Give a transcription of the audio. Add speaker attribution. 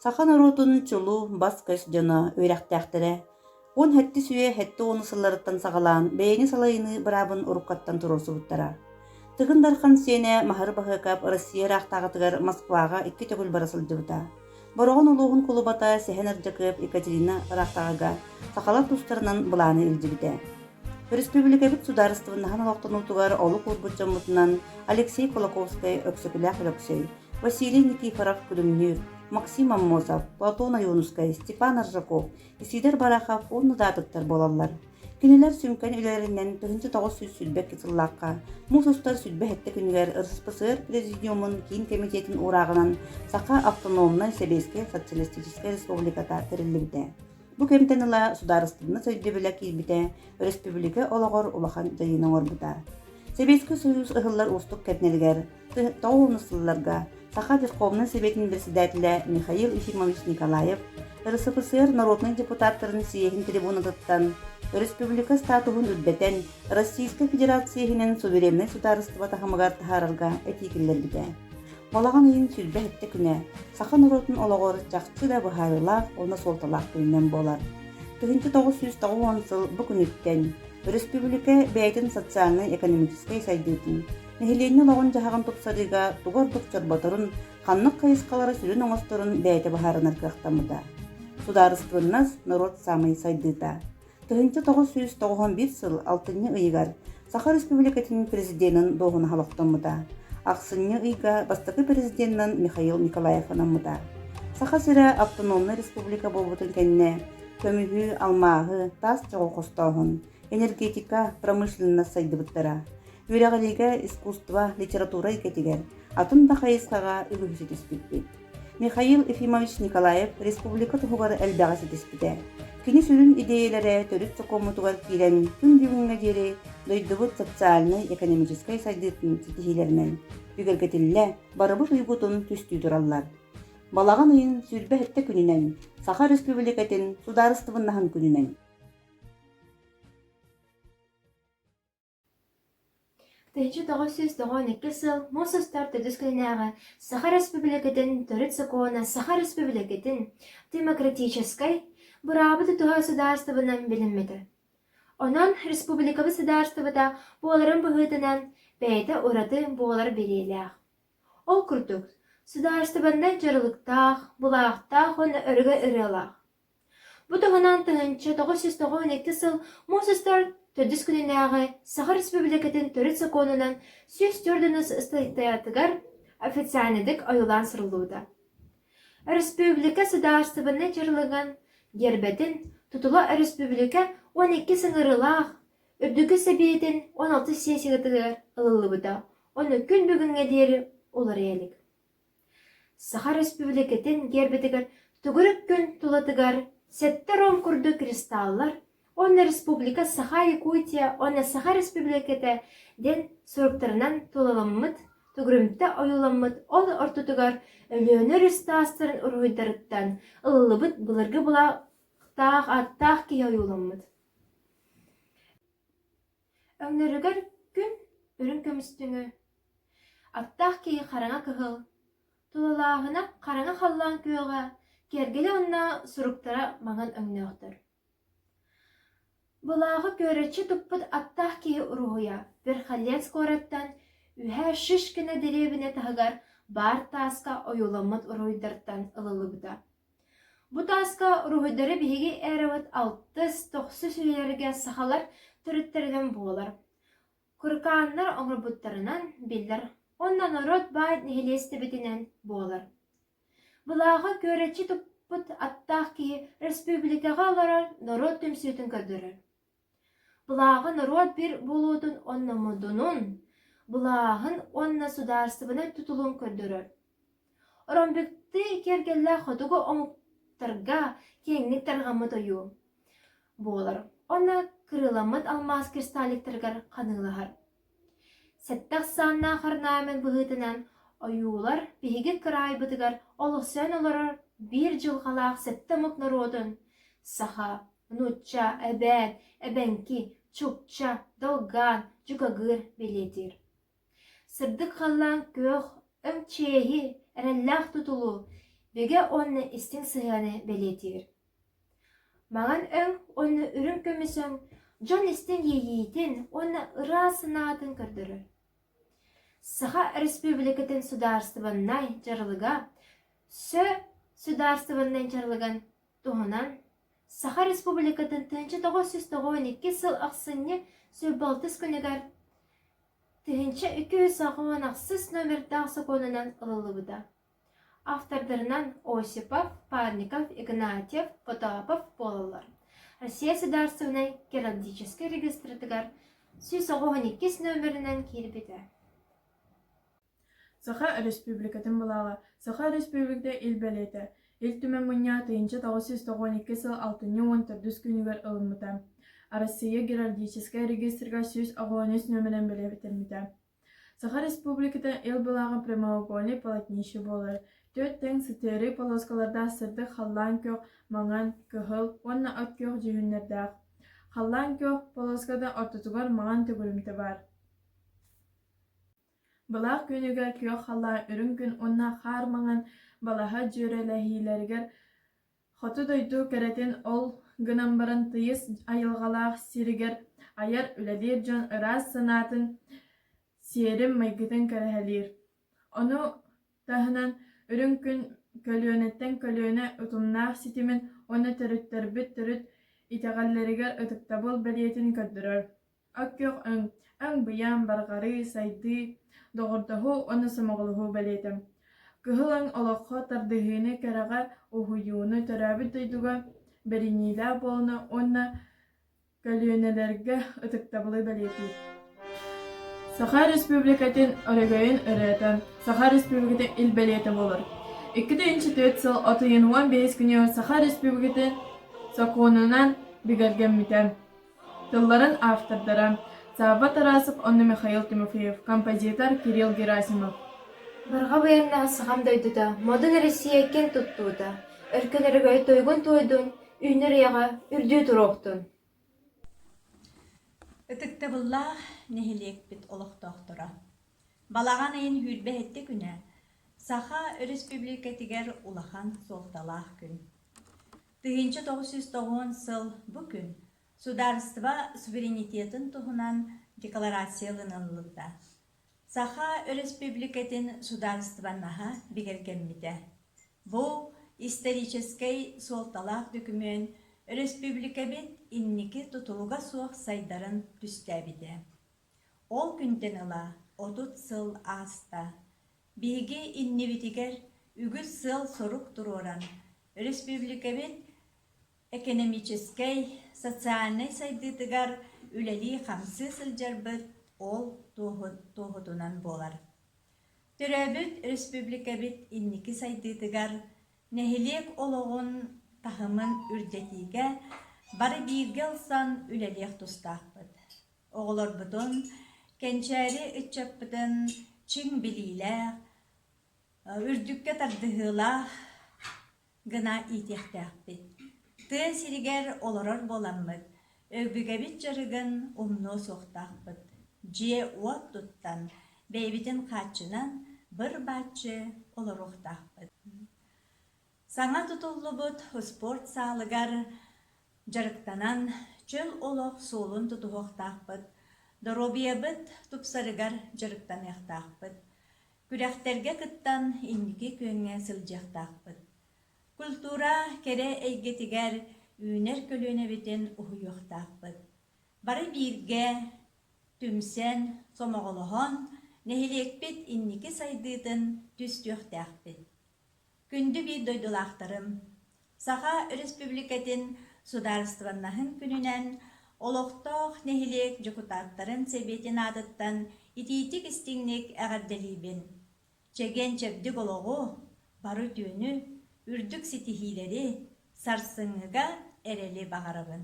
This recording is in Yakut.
Speaker 1: Саха норуотун чулу, бас-көс дьоно, үөрэхтээхтэрэ уон сэттис үйэ сэттэ уон сылларыттан саҕалаан бэйэни салайыныы быраабын уруккаттан туруорсубуттара. Тыгын Дархан сиэнэ Маһары Баһыыкап Россия ыраахтааҕытыгар Москваҕа икки төгүл бара сылдьыбыта. Бороҕон улууһун кулубата Сэһэн Ардьакыап Екатерина ыраахтааҕыга сахалар тустарынан былааны илдьибитэ. Өрөспүүбүлүкэбит судаарыстыбаннаһын олохтонуутугар олук уурбут дьоммутунан Алексей Кулаковскай, Өксөкүлээх Өлөксөй, Василий Никифоров күлүмнүүр, Максим Аммосов, Платон Ойуунускай, Степан Аржаков, Исиидэр Барахов уонна даатыктар буолаллар. Кинилэр сүҥкэн үлэлэринэн тыһыынча тоҕус сүүс сүүрбэкки сыллаахха муус устар сүүрбэ сэттэ күнүгэр РСПСР Президиумун киин кэмитиэтин уурааҕынан Саха автономнай сэбиэскэй социалистическай республиката тэриллибитэ. Бу күнтэн ыла судаарыстыбынас өйдөбүлэ киирбитэ, өрөспүүбүлүкэ олоҕор улахан дьайыыны оҥорбута. Сэбиэскэй Союз ыһыллар уустук кэмнэригэр тоҕус сылларга Саха духовнай сэбиэтин председателэ Михаил Ефимович Николаев РСФСР народнай депутаттарын съеһин трибунатыттан өрөспүүбүлүкэ статуһун үрдэтэн Российскай Федерация иһинэн сувереннай судаарыстыба таһымыгар таһаарарга этии киллэрбитэ. Балаҕан ыйын сүүрбэ сэттэ күнэ саха норуотун олоҕор чахчы да быһаарыылаах уонна суолталаах күнүнэн буолар. Тыһыынча тоҕус сүүс тоҕуон сыл бу күнүттэн өрөспүүбүлүкэ бэйэтин социальнай-экономическай сайдыытын, нэһилиэнньэ олоҕун-дьаһаҕын тупсарыыга тугу ордук чорботорун, ханнык хайысхалары сүрүн оҥосторун бэйэтэ быһаарынар кыахтаммыта. Судаарыстыбыннас норуот саамай сайдыыта. Тыһыынча тоҕус сүүс тоҕуһун биир сыл алтынньы ыйыгар Саха Республикатын Президенин дуоһунаһа олохтоммута. Ахсынньы ыйга бастакы президеннан Михаил Николаев анаммыта. Саха сирэ автономнай республика буолбутун кэннэ көмүһү, алмааһы, таас чоҕу хостооһун, энергетика, промышленность сайдыбыттара. Үөрэҕиригэ, искусство, литература эйгэтигэр атын да хайысхаҕа үгүһү ситиспиппит. Михаил Ефимович Николаев республика туһугар элбэҕи ситиспитэ. Кини сүрүн идиэйэлэрэ төрүт сокуоммутугар киирэн күн бүгүҥҥэ диэри дойдубут социальнай-экономическай сайдыытын ситиһиилэринэн бигэргэтиллэ, барыбыт уйгутун түстүү тураллар. Балаҕан ыйын сүүрбэ сэттэ күнүнэн, Саха Республикатын Судаарыстыбыннаһын күнүнэн, Тэйиччи тоҕус сүүс тоҕуон икки сыл муус устар төрдүс күннээҕи Саха Өрөспүүбүлүкэтин төрүт сокуона Саха Өрөспүүбүлүкэтин демократическай быраабы тутуһа судаарыстыбанан билиммитэ. Онон республикабыт судаарыстыбата буоларын быһыытынан бэйэтэ ураты буолар билиэлээх. Ол курдук, судаарыстыбаннай дьарылыктаах, былаахтаах уонна өрөгө ырыалаах. Бу туһунан тыһыынча тоҕус сүүс тоҕус уон икки сыл муус устар төрдүс күнүнээҕи Саха Республикатын төрүт сокуонунан сүүс түөрт уонус ыстатыйатыгар официальнайдык ойуулаан суруллубута. Өрөспүүбүлүкэ судаарыстыбаннай дьарылыгын гербэтин тутула өрөспүүбүлүкэ уон иккис ыҥырыылаах Үрдүкү Сэбиэтин он алтыс сессиятыгар ылыллыбыта. Онно күн бүгүҥҥэ диэри уларыйа илик. Саха Республикатын гербитигэр Тугүрүк күн тулатыгар сэттэ ром курдук кристаллар уонна Республика Саха Якутия уонна Саха Республиката диэн суруктарынан тулаламмыт, тugрумта ойууламмыт, ол ортотугар Өлөөнөр үс таастарын уруһуйдарыттан ылыллыбыт былыргы былаахтаах ааттаах киһи ойууламмыт. Өҥнөрүгэр күн үрүҥ көмүстүҥү, аптаах киһи хараҥа кыһыл, тулалааһына хараҥа халлаан күөҕэ, кэргэлэ уонна суруктара маҥан өҥнөөхтөр. Былааҕы күөрччи туппут аттаах киһи уруһуйа Верхоленск куораттан үһэ Шишкино дэриэбинэ таһыгар баар тааска ойууламмыт уруһуйдартан ылыллыбыта Бу тааска уруһуйдары биһиги эрабыт алтыс, тохсус үйэлэргэ сахалар төрүттэринэн буолар, куркааннар оҥорбуттарынан биллэр уонна норуот баай нэһилиэстибэтинэн буолар. Былааҕы күөрэччи туппут аттаах киһи республикаҕа олорор норуот түмсүүтүн көрдөрөр Былааҕы норуот биир буолуутун уонна модунун, былааһын уонна судаарыстыбаннай тутулун көрдөрөр. Оромбиктыы киэргэллээх хотугу омуктарга киэҥник тарҕаммыт ойуу буолар уонна кырыыламмыт алмаас кристалликтарыгар ханыылаһар. Сэттэ ахсааннаах орнамент быһыытынан ойуулар биһиги кыраайбытыгар олохсуйан олорор биир дьылҕалаах сэттэ омук норуотун саха нуучча эбээн эбэҥки чукча долгаан дьукагыыр бэлиэтиир сырдык халлаан күөх өҥ чиэһи эрэллээх тутулу бөгэ уонна истиҥ сыһыаны бэлиэтиир маҥан өҥ уонна үрүҥ көмүс өҥ дьон истиҥ иэйиитин уонна ыраас санаатын көрдөрөр саха өрөспүүбүлүкэтин судаарыстыбаннай дьарылыга сө судаарыстыбаннай дьарылыгын Туһунан Саха Республикатын тыһыынча тоҕус сүүс тоҕуон икки сыл ахсынньы сүүс-балтыс күнүгэр тыһыынча икки жүз саҕуон ахсыс номердаах сокуонунан ылыллыбыта. Автордарынан Осипов, Парников, Игнатьев, Потапов буолаллар. Россия Судаарыстыбынай геологическай регистрытыгар сүүс оҕуһун иккис номеринэн киирбитэ. Саха Өрөспүүбүлүкэтин былааҕа, Саха Өрөспүүбүлүкэтэ Ил бэлиэтэ, Ил Түмэн мунньаҕа тыйынча тоҕус сүүс тоҕуон икки сыл алтынньы уон төрдүс күнүгэр ылыммыта. Арассыыйа геральдическай регистрга сүүс оҕоҕо үс нүөмэрин бэлиэтэммитэ. Саха Республиката Ил былааҕа прямоугольнай полотнище буолар. Түөрт тэҥ сытыарыы полоскалардаах сырдык халлаан күөх, маҥан, кыһыл уонна от күөх дьүһүннэрдээх. Халлаан күөх полоската ортотугар маҥан төгүрүмтэ баар. Былаах күнүгэр күөх халлаан үрүҥ күн уонна хаар маҥан балаһа дьүөрэлэһиилэригэр хоту дойду кэрэтин ол гынан баран тыйыс айылҕалаах сиригэр айар үлэлиир дьон ыраас санаатын, сиэрин-майгытын кэрэһэлиир. Ону таһынан үрүҥ күн көлүөнэттэн көлүөнэ утумнаах ситимин уонна төрүттэрбит төрүт итэҕэллэригэр ытыктабыл бэлиэтин көрдөрөр. Өккөх-өҥ, өҥ-быйаҥ, барҕарыы, сайдыы, доҕордоһуу уонна сомоҕолоһуу бэлиэтэ. Кыһыл өҥ олоххо тардыһыыны, кэрэҕэ уһуйууну, төрөөбүт дойдуга бэриниилээх буолууну уонна көлүөнэлэргэ ытыктабылы бэлиэтиир. Саха Республикатын өрөгөйүн ырыата Саха Республикатын ил бэлиэтэ буолар. 2-4 сыл от ыйын уон биэс күнэ Саха Республикатын сокуонунан бигэргэммитэ. тылларын автордара Савва Тарасов уонна Михаил Тимофеев, композитор Кирилл Герасимов. Барҕа байыаннаах сахам дойдута, модун Россия киэн туттуута, өркөн өрөгөй туйгун-туойдун, үүнэр үйэҕэ үрдүү туруохтун! Ытыктабыллаах нэһилиэкпит олохтоохторо! Балаҕан ыйын сүүрбэһиттэ күнэ Саха Өрөспүүбүлүкэтигэр улахан суолталаах күн. Тыһыынча тоҕус сүүс тоҕуон сыл бу күн судаарыстыба суверенитетын туһунан декларация ылыныллыбыта. Саха Өрөспүүбүлүкэтин судаарыстыбаннаһа бигэргэммитэ. Бу историческай суолталаах докумүөн өрөспүүбүлүкэбит инники тутулуга суох сайдарын түстээбитэ. Ол күнтэн ыла отут сыл ааста. Биһиги иннибитигэр үгүс сыал-сорук туруоран, өрөспүүбүлүкэбит экэнэмиичэскэй, социальнай сайдыытыгар үлэлии-хамсыы сылдьарбыт ол туоһутунан буолар. Төрөөбүт өрөспүүбүлүкэбит инники сайдыытыгар, нэһилиэк олоҕун таһымын үрдэтиигэ бары бииргэ ылсан үлэлиэх тустаахпыт. Оҕолорбутун, кэнчээри ыччаппытын чиҥ билиилээх, үрдүккэ тардыһыылаах гына иитиэхтээхпит. Тыа сиригэр олорор буоламмыт, өбүгэбит дьарыгын умнуо суохтаахпыт. Дьиэ-уот туттан, бэйэбитин хааччынан быр-бааччы олоруохтаахпыт. Саҥа тутуллубут спорт саалыгар дьарыктанан, чөл олох суолун тутуһуохтаахпыт, доруобуйабыт тупсарыгар дьарыктаныахтаахпыт, күрэхтэргэ кыттан инники күөҥҥэ сылдьыахтаахпыт. Культура кэрэ эйгэтигэр үүнэр көлүөнэбитин уһуйуохтаахпыт. Бары бииргэ түмсэн, сомоҕолоһон, нэһилиэкпит инники сайдыытын түстүөхтээхпит. Күндү биир дойдулаахтарым! Саха Өрөспүүбүлүкэтин Судаарыстыбаннаһын күнүнэн олохтоох нэһилиэк дьокутааттарын сэбиэтин аатыттан итиитик-истиҥник эҕэрдэлиибин! Чэгиэн-чэбдик олоҕу, бары үтүөнү, үрдүк ситиһиилэри сарсыҥҥыга эрэли баҕарабын!